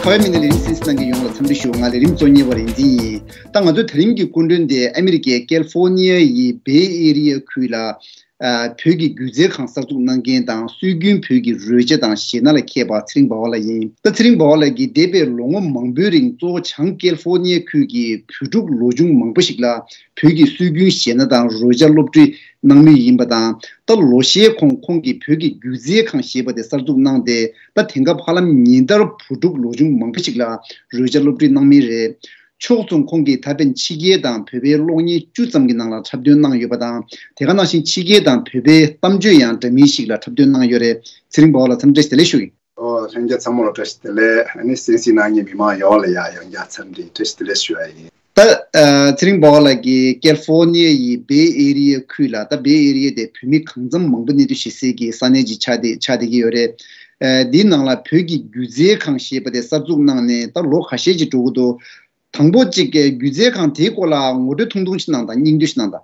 ཁ་བའི་མི་ནི་ལས་རིམ་སིན་སི་ནང་གི་ཡོངས་ལ་འཚམས་འདྲི་ཞུ་ང་ལས་རིམ་གཙོ་གཉེར་བ་རིག་འཛིན་ཡིན་ད་ང་ཚོའི་ད་རིམ་གྱི་སྐུ་མགྲོན་དེ་ཨ་མི་རི་ཀའི་ཀལ་ཧྥོ་ནི་ཡ་ཡི་བེ་ཨེ་རི་ཡ་ཁུལ་ལ་བོད་ཀྱི་སྒྱུ་རྩལ་ཁང་གསར་འཛུགས་གནང་མཁན་དང་སྲོལ་རྒྱུན་བོད་ཀྱི་རོལ་ཆ་དང་གཞས་སྣ་ལ་མཁས་པ་ཚེ་རིང་བ་བ་ལགས་ཡིན་ད་ཚེ་རིང་བ་བ་ལགས་ཀྱིས་འདས་པའི་ལོ་ངོ་མང་པོའི་རིང་གཙོ་བོ་བྱང་ཀལ་ཧྥོ་ནི་ཡ་ཁུལ་གྱི་བོད་ཕྲུག་ལོ་ཆུང་མང་པོ་ཞིག་ལ་བོད་ཀྱི་སྲོལ་རྒྱུན་གཞས་སྣ་དང་རོལ་ཆ་སློབ་ཁྲིད་གནང་མུས་ཡིན་པ་དང་ད་ལོ་ཤས་གོང་ཁོང་གིས་བོད་ཀྱི་སྒྱུ་རྩལ་ཁང་ཞེས་པ་དེ་གསར་འཛུགས་གནང་སྟེ་ད་དེང་སྐབས་ཧ་ལམ་ཉིན་ལྟར་བུ་ཕྲུག་ལོ་ཆུང་མང་པོ་ཞིག་ལ་རོལ་ཆ་སློབ་ཁྲིད་གནང་མུས་རེད། ཕྱོགས་མཚུངས་ཁོང་གིས་ད་ཕན་ཕྱི་རྒྱལ་དང་བོད་པའི་གློག་བརྙན་བཅུ་ཙམ་གྱི་ནང་ལ་འཁྲབ་སྟོན་གནང་ཡོད་པ་དང་དེ་ག་ནང་བཞིན་ཕྱི་རྒྱལ་དང་བོད་པའི་གཏམ་བརྗོད་ཡང་འདྲ་མིན་ཞིག་ལ་འཁྲབ་སྟོན་གནང་ཡོད་རེད་ཚེ་རིང་བ་བ་ལ་འཚམས་འདྲི་བྱེད་ལེ་ཞུ་ཡི། ལྷན་རྒྱས་ཚང་མ་ལ་བཀྲ་ཤིས་བདེ་ལེགས་སེམས་གསིང་གནང་ཉེ་མི་མང་ཡོངས་ལ་ཡང་ཡང་བསྐྱར་འཚམས་འདྲི་བཀྲ་ཤིས་བདེ་ལེགས་ཞུ་བ་ཡིན། ད་ཚེ་རིང་བོ་ལ་གི་ཀལ་ཧྥོ་ནི་ཡའི་ཡི་སྦེ་ཨེ་རི་ཡའི་ཁུལ་ལ་ད་སྦེ་ཨེ་རི་ཡའི་དེ་བོད་མི་གང་འཚམ་མང་པོ་གནས་སྡོད་བྱེད་སའི་གི་ས་གནས་ཀྱི་ཆ་དེ་ཆགས་བསྡད་ཀྱི་ཡོད་རེད། དེའི་ནང་ལ་བོད་ཀྱི་སྒྱུ་རྩལ་ཁང་ཞེས་པ་དེ་གསར་འཛུགས་གནང་ནས་ད་ལོ་ག་ཤས་ཅིག་འགྲོ་གི་འདུག་དང་པོ་གཅིག་སྒྱུ་རྩལ་ཁང་དེའི་སྐོར་ལ་ངོ་སྤྲོད་ཐུང་ཐུང་ཞིག་གནང་དང་སྙིང་བསྡུས་ཤིག་གནང་དང།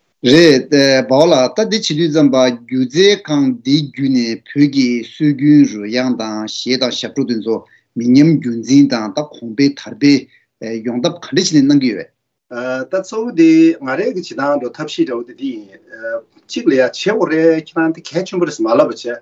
རེད། བའོ་ལགས་ལྟ་འདི་བྱེད་དུས་རྩམ་པ་སྒྱུ་རྩལ་ཁང་འདི་བརྒྱུད་ནས་བོད་ཀྱི་སྲོལ་རྒྱུན་རོལ་དབྱངས་དང་གཞས་དང་ཞབས་བྲོ་དེ་ཚོ་མི་ཉམས་རྒྱུན་འཛིན་དང་ད་གོང་འཕེལ་དར་སྤེལ་ཡོང་ཐབས་ག་འདྲ་བྱེད་ནས་གནང་གི་ཡོད། ད་གཙོ་བོ་དེ་ང་རེ་གི་བྱེད་སྟངས་འགྲོ་ཐབས་ཤེས་འདྲ་བོ་དེ་འདི་ཡིན། གཅིག་ལ་ཡ་བྱེད་འོ་རེད་ཁྱེད་རང་དེ་གལ་ཆེན་པོ་རེད་ཟེར་མ་ལབ་པ་བྱས།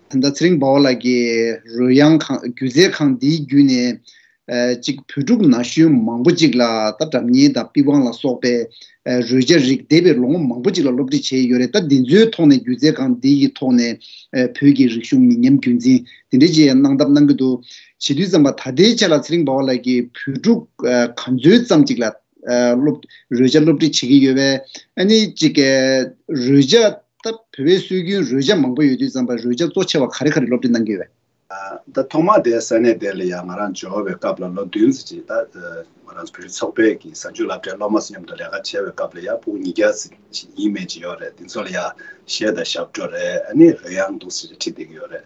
ད་ཚེ་རིང་བཱ་བ་ལགས་ཀྱིས་རོལ་དབྱངས་ཁང་སྒྱུ་རྩལ་ཁང་འདིའི་བརྒྱུད་ནས། གཅིག་བོད་ཕྲུག་ན་གཞོན་མང་པོ་གཅིག་ལ་ད་དྲ་བརྙན་དང་པི་ཝང་ལ་སོགས་པའི་རོལ་ཆ་རིགས་སྡེ་པའི་ལོ་ངོ་མང་པོ་གཅིག་ལ་སློབ་ཁྲིད་བྱས་ཡོད་རེད་ད་འདི་ཚོའི་ཐོག་ནས་སྒྱུ་རྩལ་ཁང་འདི་ཡི་ཐོག་ནས་བོད་ཀྱི་རིག་གཞུང་མི་ཉམས་རྒྱུན་འཛིན་དེ་འདྲའི་ཅི་ཡང་གནང་ཐབས་གནང་གི་འདུག་བྱེད་དུས་ཙམ་པ་ད་ལྟའི་ཆ་ལ་ཚེ་རིང་བཱ་བ་ལགས་ཀྱིས་བོད་ཕྲུག་ག་ཚོད་ཙམ་གཅིག་ལ་རོལ་ཆ་སློབ་ཁྲིད་བྱེད་ཀྱི་ཡོད་པས་ཨ་ནི་གཅིག་རོལ་ཆ་སྟབས་བེ་བའི་སྲོལ་རྒྱུན་རོལ་ཆ་མང་པོ་ཡོད་དུས་རྩམ་པའི་རོལ་ཆ་གཙོ་ཆེ་བ་ག་རེ་ག་རེ་སློབ་ཁྲིད་གནང་གི་ཡོད་བས། ད་ཐོག་མ་དེ་ས་གནས་དེ་ལ་ཡང་ང་རང་འབྱོར་བའི་སྐབས་ལ་ལོ་བདུན་ཟིན་ཅིང་ད་ང་རང་བོད་རིགས་ཚོགས་པའི་གི་གཟའ་མཇུག་བསླབ་གྲྭའི་སློབ་མ་ཚོ་མཉམ་དུ་ལས་ཀ་བྱས་བའི་སྐབས་ལ་ཡང་བུག་ཉིས་བརྒྱ་ཟིན་ཡིན་མེད་ཅིག་ཡོད་རེད་དེ་ཚོ་ལ་ཡང་གཞས་དང་ཞབས་བྲོ་རེ་ནི་རེ་ཡང་འདུག་ཟེར་ཁྲིད་དེ་གི་ཡོད་རེད་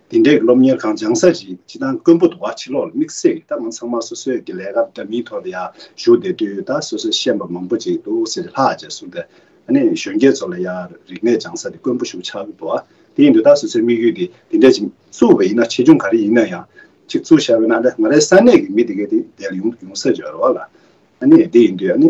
དེ་འདྲའི་སློབ་གཉེར་ཁང་སྦྱངས་ས་རེད་ཅེས་དང་མགོན་པོ་དུ་བ་ཕྱི་ལོགས་ལ་དམིགས་བསལ་གྱིས་ད་མ་ཚང་མ་སོ་སོའི་གི་ལས་ཀ་འདྲ་མིན་ཐོག་ཏུ་ཡང་ཞུགས་བསྡད་དུས་ད་སོ་སོའི་ཤེས་པ་མང་པོ་ཅིག་འདུག་ཟེར་ཏེ་ལྷག་བཅས་གསུངས་ཏེ། ཨ་ནེ་གཞོན་སྐྱེས་ཚོ་ལ་ཡང་རིག་གནས་སྦྱངས་ས་དེ་མགོན་པོ་ཞུགས་ཆགས་གི་འདུག་དེ་ཡིན་དུས་ད་སོ་སོའི་དམིགས་ཡུལ་དེ་དེ་འདྲས་ཅིག་བཙུགས་པ་ཡིན་ན་ཆེ་ཆུང་ག་རེ་ཡིན་ན་ཡང་ཅིག་བཙུགས་བཞག་པས་ན་ད་ང་རའི་ས་གནས་ཀྱི་མི་དེ་གས་དེ་འདས་ལ་ཡོང་ཡོང་ས་རེད་རོགས་ལ། ཨ་ནེ་དེ་ཡིན་དུས་ཨ་ནེ།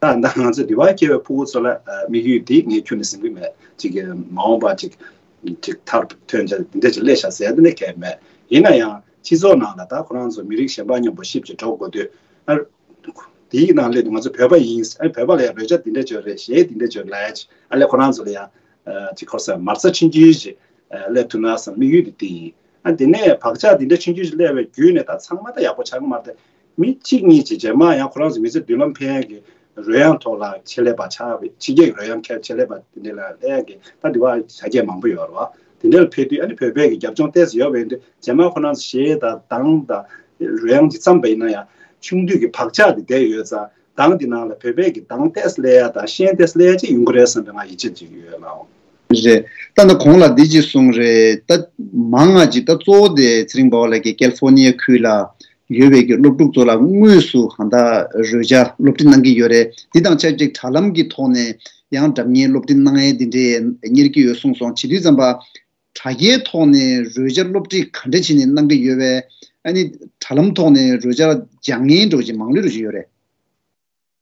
ད་ང་ཚོས་དེ་བར་སྐྱེ་བའི་ཕུ་བོ་ཚོ་ལ་དམིགས་ཡུལ་འདི་ངས་ཁྱོད་ནས་ཟིན་གྱི་མེད་ཅིག་མ་འོངས་པ་ཅིག་ཅིག་ཐར་ཐོན་བྱ་འདི་འདྲ་ཅིག་སླེ་བཞག་ཟེར་ནས་གལ་མེད་ཡིན་ན་ཡང་སྤྱི་ཚོགས་ནང་ལ་ད་ཁོ་རང་ཚོ་མི་རིགས་གཞན་པ་མཉམ་པོ་ཞིབ་ཅིག་འགྲོ་དགོས་དུས་དེའི་ནང་སླེ་དུས་ང་ཚོ་བོད་པ་ཡིན་ཨ་བོད་པ་ལ་ཡང་རོལ་ཆ་འདི་འདྲ་བྱོས་རེད་གཞས་འདི་འདྲ་བྱོས་རེད་ལས་ཅིག་ཨ་ལས་ཁོ་རང་ཚོ་ལ་ཡང་ཅིག་ཁོ་སར་མར་རྩ་ཆིན་རྒྱུན་ཞིག་སླེ་ཐུབ་ན་བསམ་དམིགས་ཡུལ་དེ་འདི་ཡིན་ཨ་དེ་ནས་བག་ཆགས་འདི་འདྲ་ཆིན་རྒྱུན་ཞིག་སླེ་བའི་བརྒྱུད་ནས་ད་ཚང་མ་ད་ཡག་པོ་ཆགས་ཀྱི་མ་རེད། མི་གཅིག་གཉིས་ཀྱི་རྗེས་མར་ཡང་ཁོ་རང་ཚོའི་མི་ཚེ་མདུན་ལམ་ཕན་ཡོན་གྱི་རོལ་དབྱངས་ཐོག་ལ་ཆེད་ལས་པ་ཆགས་པའི་ཕྱི་རྒྱལ་གྱི་རོལ་དབྱངས་མཁས་པ་ཆེད་ལས་པ་དེ་འདྲའི་ལ་ལས་ཀྱི་ལྟ་དེ་བ་ཆ་རྒྱས་མང་པོ་ཡོད་རེད་བ། དེ་འདྲའི་ལ་ཕེབས་དུས་ཨ་ནི་བོད་པའི་གི་རྒྱབ་ལྗོངས་གཏད་སོ་ཡོད་པ་ཡིན་དུས་རྗེས་མར་ཁོ་རང་ཚོ་གཞས་དང་གདངས་དང་རོལ་དབྱངས་ཀྱི་བརྩམས་པ་ཡིན་ན་ཡང་ཆུང་དུས་ཀྱི་བག་ཆགས་དེ་བསྡད་ཡོད་ཙང་གདངས་དེ་ནང་ལ་བོད་པའི་གི་གདངས་གཏད་སོ་ལས་ཡ་དང་ཤན་གཏད་སོ་ལས་ཡ་ཅིག་ཡོང་གི་རེད་བསམ་པའི་ང་ཡིད་ཆེས་ཅིག་ཡོད་ཡོད་ལགས། རེད་ད་ནི་གོང་ལ་འདི་གཅིག་གསུངས་རེད་ད། མང་ང་གཅིག་ད་གཙོ་བོ་དེ་ཚེ་རིང་བ་བ་ལགས་ཀྱི་ཀལ་ཕོར་ནི་ཡ་ཁུལ་ལ་ཡོད་པའི་གྱི་སློབ་ཕྲུག་ཚོ་ལ་དངོས་སུ་གང་དག་རོལ་ཆ་སློབ་ཁྲིད་གནང་གི་ཡོད་རེད་འདི་དང་ཆབས་ཅིག་དྲ་ལམ་གྱི་ཐོག་ནས་ཡང་གྲབས་གཉེར་སློབ་ཁྲིད་གནང་ཡས་འདི་འདྲས་གཉེར་གྱི་ཡོད་གསུངས་སོང་བྱིས་དུས་ཙམ་པ། དྲ་རྒྱའི་ཐོག་ནས་རོལ་ཆ་སློབ་ཁྲིད་ག་འདྲ་བྱས་ནས་གནང་གི་ཡོད་བས་ཨ་ནི་དྲ་ལམ་ཐོག་ནས་རོལ་ཆ་སྦྱང་ངན་འགྲོ་བྱེད་མང་ལོད་རོལ་བཞིན་ཡོད་རེད།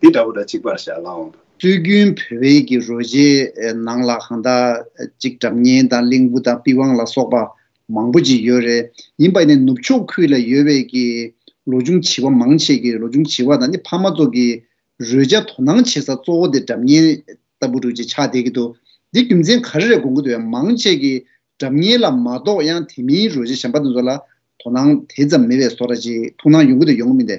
འདི་འདྲ་བོ་འདྲ་གཅིག་པར་བཞག་ལ་འོང་དུ། སྲོལ་རྒྱུན་བོད་དབྱིན་གྱི་རོལ་ཆའི་ནང་ལ་གང་དག་ཅིག་གྲབས་སྙན་དང་གླིང་བུ་དང་པི་ཝང་ལ་སོགས་པ་མང་པོ་ཅིག་ཡོད་རེད། ཡིན་པ་ནི་ནུབ་ཕྱོགས་ཁུལ་ལ་ཡོད་བས་ཀྱི་ལོ་ཆུང་བྱིས་པ་མང་ཆེ་གི་ལོ་ཆུང་བྱིས་པ་དང་ནི་ཕ་མ་ཚོ་གི་རོལ་ཆ་དོ་སྣང་བྱེད་ས་གཙོ་བོ་དེ་གྲབས་སྙན་ལྟ་བུ་དྲུག་ཅིག་ཆགས་བསྡད་ཀྱི་འདུག་འདི་རྒྱུ་མཚན་ག་རེ་རེད་དགོངས་ཀྱི་འདུག་ཡང་མང་ཆེ་གི་གྲབས་སྙན་ལ་མ་གཏོགས་ཡང་དེ་མིན་རོལ་ཆ་གཞན་པ་དེ་ཚོ་ལ་དོ་སྣང་དེ་ཙམ་མེད་བས་སོ་ར་ཅིག་ཐུགས་སྣང་ཡོང་གི་འདུག་ཡོང་གི་མིན་ཏེ།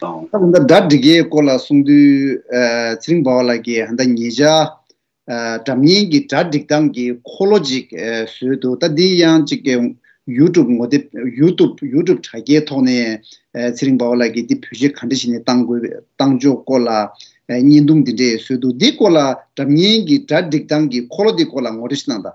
དང། ད་ལྟ་སྒྲ་འདི་གའི་སྐོར་ལ་གསུང་དུས་ཚེ་རིང་པ་བ་ལགས་ཀྱིས་ཧན་ད་ཉིས་བྱ། སྒྲ་བརྙན་གྱི་སྒྲ་སྒྲིག་སྟངས་ཀྱི་འཁོར་ལོ་ཅིག་བཟོས་འདུག་ད་འདི་ཡང་ཅིག་ཡུ་ཏུབ་ངོ་དེབ་ཡུ་ཏུབ Youtube དྲ་རྒྱའི་ཐོག་ནས་ཚེ་རིང་པ་བ་ལགས་ཀྱིས་འདི་བོད་གཞས་ག་འདྲ་ཞིག་ནས་བཏང་དགོས་བཏང་ཕྱོགས་སྐོར་ལ་བརྙན་ཐུང་འདི་འདྲས་བཟོས་འདུག་འདི་སྐོར་ལ་སྒྲ་བརྙན་གྱི་སྒྲ་སྒྲིག་སྟངས་ཀྱི་འཁོར་ལོ་འདི་སྐོར་ལ་ངོ་སྤྲོད་ཞིག་གནང་དང།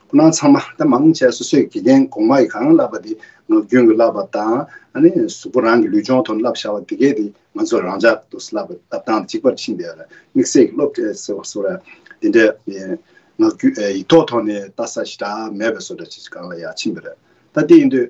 སྣང་ཚང་མ་དེ་མང་བྱས་སོ་སོས་དགེ་རྒན་གོང་མ་ཡིས་གང་བསླབས་པ་དེ་ངག་རྒྱུན་གྱིས་བསླབས་པ་དང། གཟུགས་པོ་རང་གི་ལུས་སྦྱོང་དོན་བསླབ་བྱ་བ་དེ་གས་དེ་ང་ཚོ་རང་ཅག་ཏུ་བསླབ་པའི་བསླབ་སྟངས་གཅིག་པར་ཕྱིན་པས་ལ་དམིགས་བསལ་གྱི་སློབ་གྲྭའི་ཟེར་བ་སོགས་ལ་དེ་འདྲའི་ངག་རྒྱུན་ཡིག་ཐོག་ཐོག་ནས་བལྟ་ས་ཞེ་དྲགས་མེད་པས་སོ་སྒྲ་ཇི་ལྟར་གང་ལ་ཡང་ཕྱིན་པ་རེད་ད་དེ་ཡིན་དུས།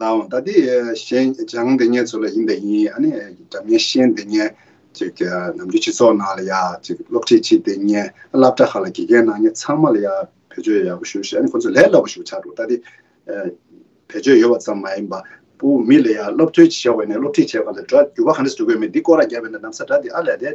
ནའོ། ད་དེ་གཞན་སྦྱངས་དེ་ཉན་ཚུལ་ལ་ཡིན་པས་ཡིན། ཨ་ནི་དགྲ་མཉེན་གཤེན་དེ་ཉན། ཅིག་གི་ནམ་རྒྱུན་སྤྱི་ཚོགས་ནང་ལ་ཡ། ཅིག་གི་སློབ་ཁྲིད་ཅིག་དེ་ཉན། བསླབ་གྲྭ་ཁག་ལ་དགེ་རྒན་ནང་ཉན་ཚང་མ་ལ་ཡ། བེད་སྤྱོད་ཡག་པོ་ཞུ་ཞེས་ཨ་ནི་ཁོ་ཚོས་ལས་སླ་པོ་ཞིག་ཆགས་འདུག་ད་དེ། བེད་སྤྱོད་ཡོད་པ་ཙམ་མ་ཡིན་པ། པུ་མི་ལ་ཡ་སློབ་ཐོན་ཅིག་བྱ་བས་ནས་སློབ་ཁྲིད་བྱེད་པ་ལ་དགྲ་རྒྱུ་བ་ག་འདྲ་ཞིག་འདུག་གོ་མེད་འདི་ཀོ་ར་རྒྱབ་པས་ན་གནམ་ས་དགྲ་དེ་ཨ་ལས་དེ།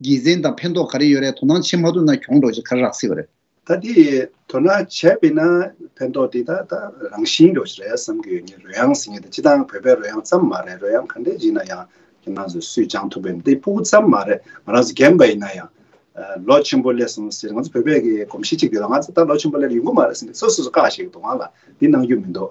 དགེ་མཚན་དང་ཕན་ཐོགས་ག་རེ་ཡོད་རེད་དོ་སྣང་བྱེད་མ་ཐུབ་ན་གྱོང་འགྲོ་ཆེད་ག་རེ་རག་སྲིད་པ་རེད། ད་དེ་དོ་སྣང་བྱས་པས་ན་ཕན་ཐོགས་དེ་དག་ད་རང་བཞིན་འགྲོ་ཆེད་རེད་བསམ་གྱི་ཡོད་ངེས་རོལ་དབྱངས་ཟེར་ངེས་ཏེ་སྤྱི་དང་བོད་པའི་རོལ་དབྱངས་ཙམ་མ་རེད་རོལ་དབྱངས་ག་འདྲའི་བརྗིད་ན་ཡང་ཁྱེད་རང་ཚོས་སུས་སྦྱང་ཐུབ་པའི་འདི་པོ་ཙམ་མ་རེད་ང་རང་ཚོ་རྒན་པ་ཡིན་ན་ཡང། ལོ་ཆེན་པོ་སླེབས་སོང་ཟེར་ང་ཚོ་བོད་པའི་གི་གོམས་གཤིས་གཅིག་ཡོད་ད་ང་ཚོ་ད་ལོ་ཆེན་པོ་སླེབས་ཡོང་གི་མ་རེད་ཟེར་ནས་སོ་སོ་སོ་བཀག་བྱེད་ཀྱི་འདུག་ང་ལ་འདི་གནང་རྒྱུ་མི་འདུག་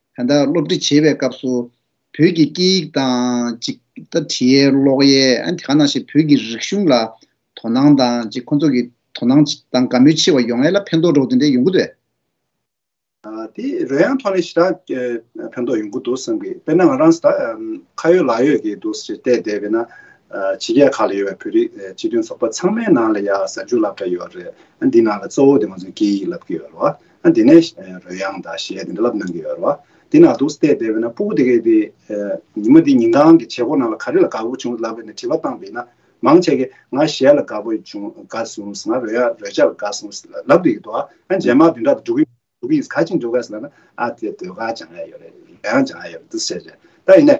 དེ་དག་སློབ་ཁྲིད་བྱེད་པའི་སྐབས་སུ། བོད་ཀྱི་སྐད་ཡིག་དང། ཅིག། ད་དྲིའི་ཀློག་གཡས། དེ་ག་ནང་བཞིན་བོད་ཀྱི་རིག་གཞུང་ལ། དོ་སྣང་དང། ཅིག་ཁོ་ཚོ་གི། དོ་སྣང། དང་དགའ་མོས་ཆེ་བ་ཡོང་ཡས་ལ་ཕན་ཐོགས་འགྲོ་གི་འདུག་འདི་ཡོང་གི་འདུག་བས། དེ་རོལ་དབྱངས་ཐོག་ནས་ཞེ་དྲག། ཕན་ཐོགས་ཡོང་གི་འདུག་བསམ་གི། དཔེར་ན་ང་རང་ད། ཁ་ཡོད་ལག་ཡོད་ཀྱི་འདུག་ཅེས་བལྟས་བསྡད་པས་ན། ཕྱི་རྒྱལ་ཁག་ལ་ཡོད་པའི་བོད་རིགས་སྤྱི་མཐུན་ཚོགས་པ་ཚང་མའི་ནང་ལ་ཡ་གཟའ་འཇུག་ལབ་གྲ་ཡོད་རེད། འདི་ནང་ལ་གཙོ་བོ་དེ་ང་ཚོའི་སྐད་ཡིག་ལབ་ཀྱི་ཡོད་རེད་བ། ཨ་དེ་ནས་རོལ་དབྱངས་དང་ཞེས་དེ་འདྲ་ལབ་གནང་གི་ཡོད་རེད་བ། དེ་ནང་དུ་བལྟས་བསྡད་པས་ན་སྤུ་གུ་དེ་གས་དེ། ཉི་མ་དེ་ཉིན་གང་གི་བྱེད་སྒོ་ནང་ལ་ག་རེ་ལ་དགའ་བོ་བྱུང་ལབ་པས་ན་དྲི་བ་བཏང་བས་ན། མང་ཆེ་གས་ང་གཞས་ལ་དགའ་བོ་བྱུང་དགའ་སོང་ཟེར་ང་རོལ་དབྱངས་རོལ་ཆ་ལ་དགའ་སོང་ཟེར་ལབ་དུས་ཀྱི་དོ་ཨ་རྗེས་མ་དེ་འདྲ་དུ་འགྲོ་གི་འགྲོ་གི་ཡིན་ག་ཅིག་འགྲོ་ག་ཟེར་ལབ་ན་ཨ་དེ་སྡོད་ག་བྱང་ཡ་ཡོད་རེད་རོལ་དབྱངས་བྱང་ཡ་ཡོད་རེད་འདི་ཟེར་བྱས། ད་ཡིན་ནས།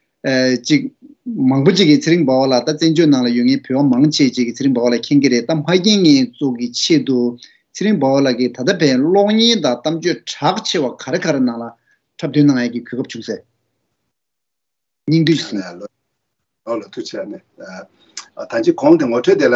ཅིག། མང་པོ་ཅིག་གིས་ཚེ་རིང་བ་བ་ལགས་ད་བཙན་བྱོལ་ནང་ལ་ཡོད་ངེས་བུད་བ་མང་ཆེ་བཅས་ཀྱིས་ཚེ་རིང་བ་བ་ལ་མཁྱེན་གྱི་རེད་གཏམ་ཧ་རྒྱན་ངེས་བཙོག་གི་ཆེད་དུ་ཚེ་རིང་བ་བ་ལགས་ཀྱིས་ད་ལྟ་བའི་གློག་བརྙན་དང་གཏམ་བརྗོད་གྲགས་ཆེ་བ་ག་རེ་ག་རེ་ནང་ལ་འཁྲབ་སྟོན་གནང་ཡག་གི་གུས་སྐབས་བྱུང་ཟེར་སྙིང་བསྡུས་ཤིག། ལོག་ལ་ཐུག་བྱས་ནས། ད་ཅིག་གོང་དེ་ངོ་འཕྲོད་དེ་ལ།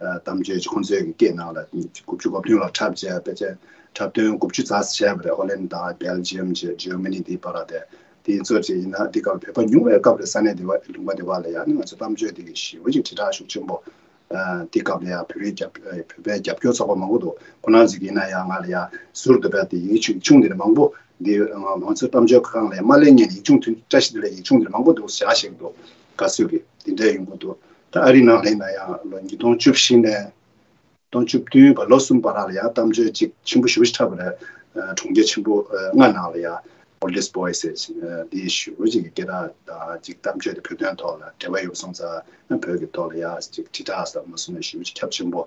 གཏམ་བརྗོད་ཀྱི་ཁོང་ཚོའི་སྐད་ནང་ལ་དགུ་བཅུ་གོ་བདུན་ལ་འཁྲབ་བྱས་པའི་ཚེ་འཁྲབ་སྟོན་དགུ་བཅུ་རྩ་བྱས་པ་རེད་ཨོ་ལན་དང་བེལ་ལྗི་ཡམ་བཅས་ཇོའི་མི་ནི་དེའི་བར་ལ་དེ་དེ་ཚོ་བཅས་ཡིན་ན་དེ་སྐབས་བོད་པ་ཉུང་བའི་སྐབས་རེད་ས་གནས་དེ་བ་ལུང་པ་དེ་བ་ལ་ཡང་ནི་ང་ཚོ་གཏམ་བརྗོད་དེ་གི་ཞི་བ་གྱི་དྲིལ་བསྒྲགས་ཤུགས་ཆེན་པོ་དེ་སྐབས་ལ་ཡང་བོད་རིགས་རྒྱབ་བོད་པའི་རྒྱབ་སྐྱོར་ཚོགས་པ་མང་པོ་འདུག་ཁོ་ནར་ཟིག་ཡིན་ན་ཡང་ང་ལ་ཡང་ཟུར་དུ་བེལ་དེ་ཡིག་ཆུང་ཆུང་དེ་ལས་མང་པོ་འདི་ང་ཚོ་གཏམ་བརྗོད་ཁང་ལས་མ་གླེང་ངས་ཡིག་ཆུང་ཐུན་བཀྲ་ཤིས་དེ་ལས་ཡིག་ཆུང་དེ་ལས་མང་པོ་འདུག་བཞག་ཤིག་འདུག་ག་ཚོད་ཀྱི་དེ་འདྲས་ཡོང་གི་འདུག་ཨ་རིའི་ནང་སླེབས་ན་ཡང་ལོ་ཉིས་སྟོང་བཅུ་བཞི་ནས་སྟོང་བཅུ་བདུན་བར་ལོ་གསུམ་པ་རག་ལ་ཡང་གཏམ་བརྗོད་ཅིག་ཆེན་པོ་ཞུ་བཞི་ཕྲ་བ་རེ་གྲོང་ཁྱེར་ཆེན་པོ་ལྔ་ནང་ལ་ཡང Oldest Boy says འདི་ཞུ་བཞི་གི་སྐད་གྲགས་དང་ཅིག་གཏམ་བརྗོད་དེ་བོད་དོན་ཐོག་ལ་འབྲེལ་བ་ཡོད་པ་སོང་ཙང་བོད་ཀྱི་ཐོག་ལ་ཡང་ཅིག་དྲིལ་བསྒྲགས་ཟབ་མོ་སོང་ནས་ཞུ་བཞི་ཁྱབ་ཆེན་པོ